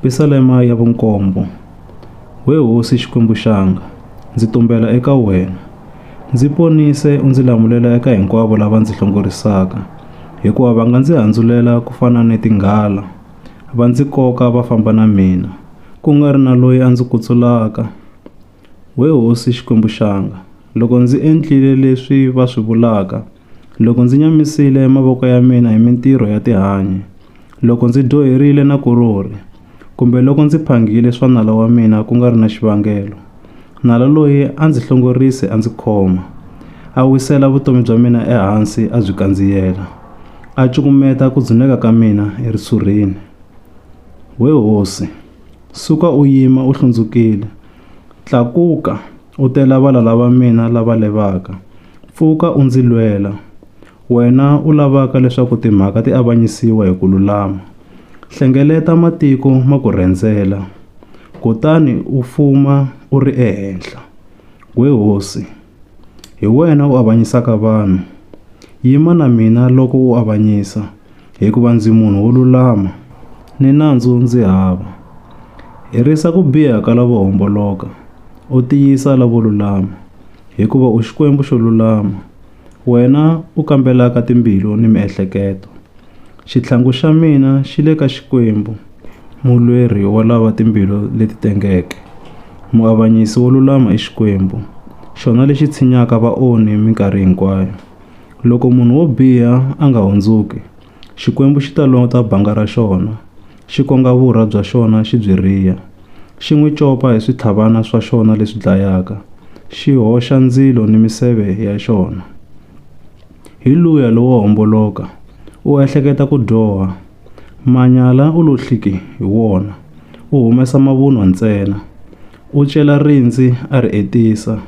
Pisalema ya vunkombo. We Hosi Xikwembu-Xanga, ndzi tumbela eka wena. Ndzi ponise u ndzi lamulela eka hinkwavo lava ndzi hlongorisaka, hikuva va nga ndzi handzulela ku fana ni tinghala, va ndzi koka va famba na mina, ku nga ri na loyi a ndzi kutsulaka. We Hosi Xikwembu-Xanga, loko ndzi endlile leswi va swi vulaka, Loko ndzi nyamisile mavoko ya mina hi mintirho ya tihanyi, loko ndzi dyoherile na korori, kumbe loko ndzi phangile swa nala wa mina ku nga ri na xivangelo, nala loyi a ndzi hlongorise a ndzi khoma, a wisela vutomi bya mina ehansi a byi kandziyela, a cukumeta ku dzuneka ka mina erisurhini. We hosi, suka u yima u hlundzukile, tlakuka u te la valala va mina lava levaka, Pfuka u ndzi lwela, wena u lavaka leswaku timhaka ti avanyisiwa hi ku lulama. Hlengeleta matiko ma ku rhendzela, kutani u fuma u ri ehenhla. We hosi, hi wena u avanyisaka vanhu, yima na mina loko u avanyisa, hikuva ndzi munhu wo lulama, ni nandzu ndzi hava. Herisa ku biha ka lavo homboloka, u tiyisa lavo lulama. hikuva u Xikwembu xo lulama, wena u kambelaka timbilu ni miehleketo. Xitlhangu xa mina xi le ka Xikwembu, mulweri wa lava timbilu leti tengeke. Muavanyisi wo lulama i Xikwembu, xona lexi tshinyaka vaonhi minkarhi hinkwayo. Loko munhu wo biha a nga hundzuki, Xikwembu xi ta lota banga ra xona, xi konga vurha bya xona xi byi riha, xi n'wi copa hi switlhavana swa xona leswi dlayaka, xi hoxa ndzilo ni miseve ya xona. Hi luya lowo homboloka, u ehleketa ku dyoha, manyala u lo hliki hi wona, u humesa mavunwa ntsena, u cela rindzi a ri etisa.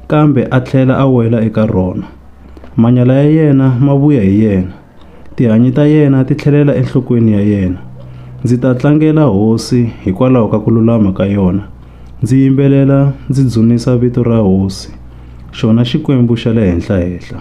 kambe a tlhela a wela eka rona. Manyala ya yena ma vuya hi yena, tihanyi ta yena ti tlhelela enhlokweni ya yena. Ndzi ta tlangela hosi hikwalaho ka ku lulama ka yona, ndzi yimbelela ndzi dzunisa vito ra hosi, xona Xikwembu xa le Henhla-henhla.